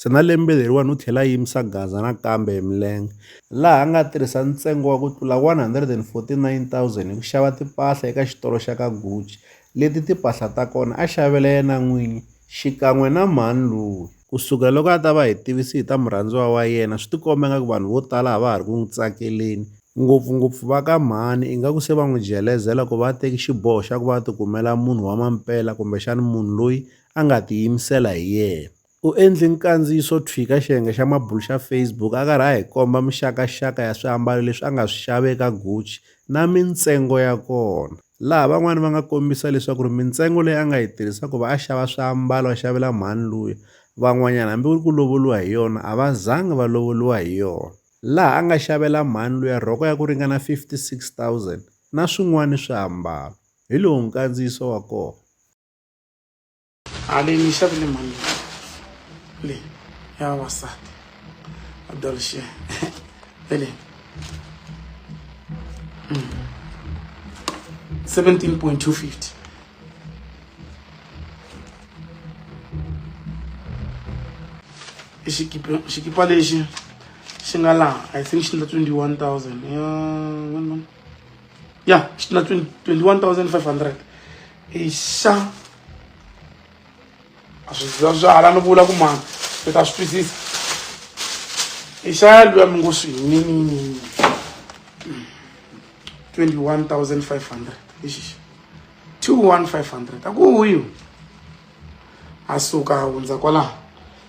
Se na lembe leriwani u tlhele a yimisa Gaza nakambe hi milenge, laha a nga tirhisa ntsengo wa ku tlula R149,000 hi ku xava timpahla eka xitolo xa ka Gucci, leti timpahla ta kona a xavela yena n'winyi xikan'we na mhani loyi. Ku sukela loko a ta va hi tivise hi ta murhandziwa wa yena, swi tikomba ingaku vanhu vo tala a va ha ri ku n'wi tsakeleni, ngopfu-ngopfu va ka mhani, ingaku se va n'wi jelezela ku va a teke xiboho xa ku va a tikumela munhu wa mampela kumbexana munhu loyi a nga tiyimisela hi yena. U endle nkandziyiso wo thwii ka xiyenge xa mabulu xa Facebook a karhi a hi komba mixaka-xaka ya swiambalo leswi a nga swi xava eka Gucci na mintsengo ya kona, laha van'wana va nga kombisa leswaku ri mintsengo leyi a nga yi tirhisa ku va a xava swiambalo a xavela mhani luya, van'wanyana hambi ku ri ku lovoriwa hi yona a va zangi va lovoriwa hi yona, laha a nga xavela mhani luya rhoko ya ku ringana 56,000 na swin'wana swiambalo, hi lowu nkandziyiso wa kona. haleni yi xavile mhani leyi ya vavasati abdolshe vele 17.250 i xikipa xikipa lexi xi nga laha i think xi na 21000 ya xi na 21500 i xa a swi za swi hala ni vula ku mani mi ta swi twisisa i xaya luya mi ngo swi yinini 21500 i xixa 21500 a ku huyo a suka a hundza kwalaho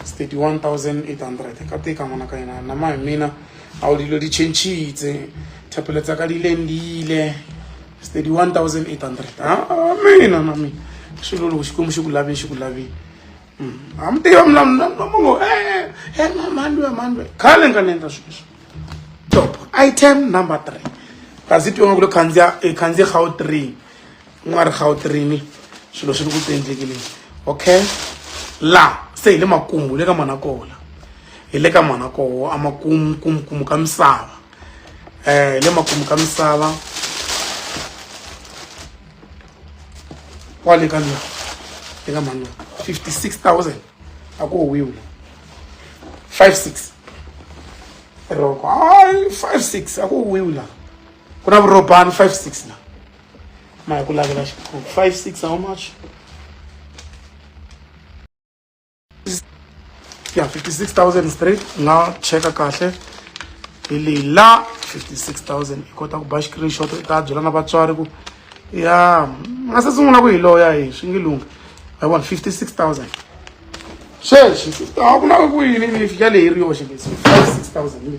It's 31800 ka teka ngwana ka yena nama mina a o dilo di chentshitse thapelo tsa ka di lendile it's 31800 a mina na mina swilo loko xikwembu xi ku lavini xi ku lavini a mi tiva mlamungo e mandwe mandwe khale nga ni endla sweswo top item number three kasi twiwa nga ku lo khandziya i khandziye gautring u nga ri gawutirini swilo swi ri ku tiendlekile okay laha se hi le makumu le ka manakola hi le ka manakoho a makumu kumukumu ka misava um hi le makumu ka misava kwale ka la le ka mano fifty six thousand a ku howiwi five six roko hayi five six a ku howiwi laha ku na vurobani five six laha ma hi ku lavela xiphuku five six how much ya 56000 straight nga cheka kahle hi leyi la 56000 i kota ku ba screenshot i ta byela na vatswari ku ya nga se sungula ku hi loya hi swi nge lunghi i want 56000 sweswi a ku na ku yini ni fika leyi ri yoxe 56000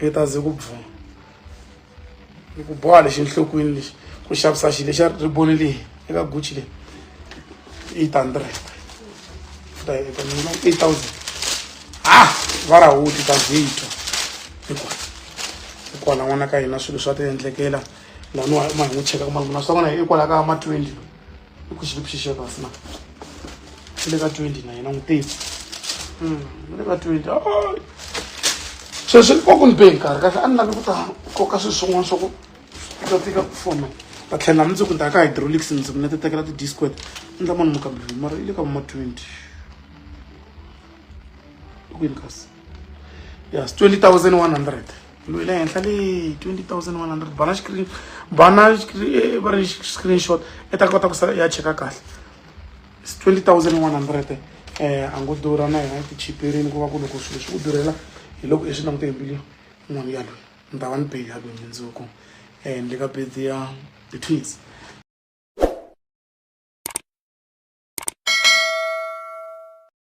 yi ta ze ku bvuma ni ku boha lexi enhlokweni lexi ku xavisa xilo xa riboni leyi eka gucci leyi eight hundred ta eka mina eight thousand ha ah! va ra huti ta zitwa hikuva hikwala n'wana ka hina swilo swa ti endlekela laniwa ma hi n'wi cheka ku malungu naswona hi hikwalaho ka ma twenty i ku xi le ku xixevasi na xi le ka twenty na yena n'wi teki hmm, ni le ka twenty sweswi va ku ni be nkarhi kahle a ni lavi ku ta koka swilo swin'wana swa ku ta tika ku fona va tlhela mi ndzi ku ndaka hydraulics ndzi ku na ti tekela ti-disquet ni ta mani mukambirhi mara yi le ka vuma twenty kwini kasi yes twenty thousand one hundred loyi le henhla le 20100 bana screen bana eh, va ri screenshot i ta kota ku sa ya cheka kahle 20100 um eh, a ngo durha na yona tichiperini ku va ku loko swilo swi ku durhela hi loko i swi langute hi mbilu n'wana ya loyi ni ta va ni beli ya loyi mindzuku um eh, ni le ka bedi ya ti-twins